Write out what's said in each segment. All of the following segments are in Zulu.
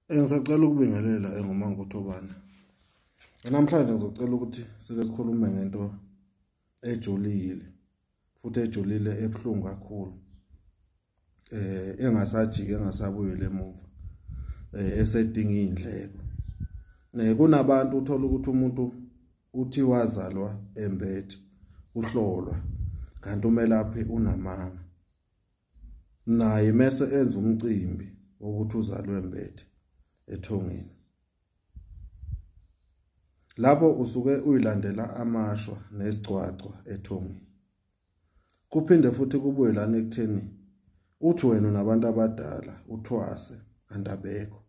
Eh, ngisacela ukubingelela engoma ngothobane namhlanje ngizocela ukuthi sike sikhulume ngento ejulile futhi ejulile ebuhlungu kakhulu eh engasajiki engasabuyele emuva eh esedinga indleko eh kunabantu uthola ukuthi umuntu uthi wazalwa embethe uhlolwa kanti umelaphi unamanga naye mese enza umcimbi wokuthi uzalwe mbethe ethongeni lapho usuke uyilandela amashwa nesigcwagcwa ethongeni kuphinde futhi kubuye lana ekutheni uthi wena nabantu abadala uthwase andabekho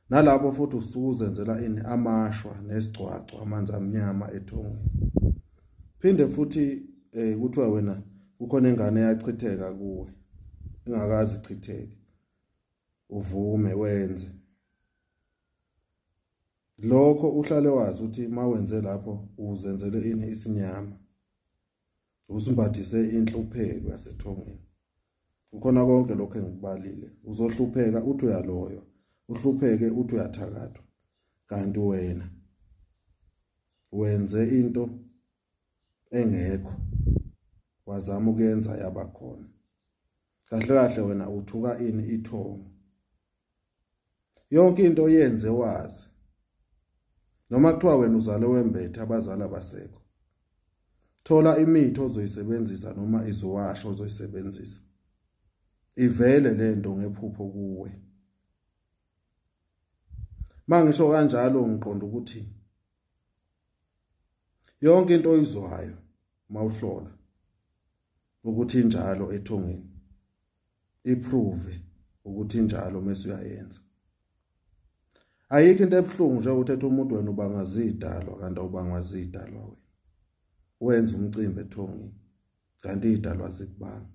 nalapho futhi usuke uzenzela ini amashwa nesigcwagcwa amanzi amnyama ethongweni phinde futhi eh kuthiwa wena kukhona ingane yachitheka kuwe ingakazi chitheke uvume wenze lokho uhlale wazi ukuthi mawenze lapho uzenzele ini isinyama usimbathise inhlupheko yasethongeni ukhona konke lokho engikubalile uzohlupheka uthi uyaloyo uhlupheke uthi uyathakathwa kanti wena wenze into engekho wazama ukuyenza yabakhona kahle kahle wena uthuka ini ithongo yonke into oyenze wazi noma kuthiwa wena uzale wembethe abazali abasekho thola imithi ozoyisebenzisa noma iziwasho ozoyisebenzisa ivele lento ngephupho kuwe mangisho kanjalo ngiqonda ukuthi yonke into oyizwayo mawuhlola ukuthi injalo ethongeni iprove ukuthi injalo mase uyayenza ayikho into ebuhlungu nje uthetha umuntu wena ubangazidalwa kanti ubangazidalwa wena wenza umcimbi ethongini kanti idalwa zikubanga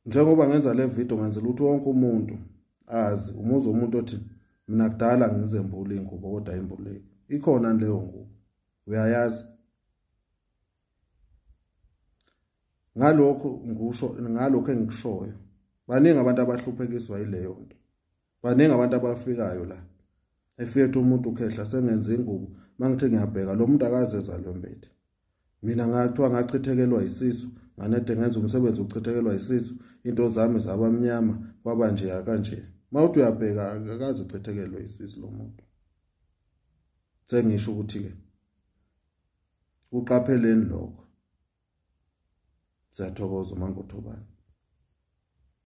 njengoba ngenza le video ngenzela ukuthi wonke umuntu azi umuzi umuntu othi mina kudala ngizembula ingubo kodwa imbuleki ikhona leyo ngubo uyayazi ngalokho ngikusho ngalokho engikushoyo baningi abantu abahluphekiswa yileyo nto baningi abantu abafikayo la efethu umuntu ukhehla sengenza ingubo mangithe ngiyabheka lo muntu akazeza lo mbethe mina ngathiwa ngachithekelwa isisu nganede ngenza umsebenzi uchithekelwa isisu into zami zabamnyama kwaba nje kanje mawuthi uyabheka akaze uchithekelwe isisu lo muntu sengisho ukuthi ke kuqapheleni lokho siyathokoza umangothobani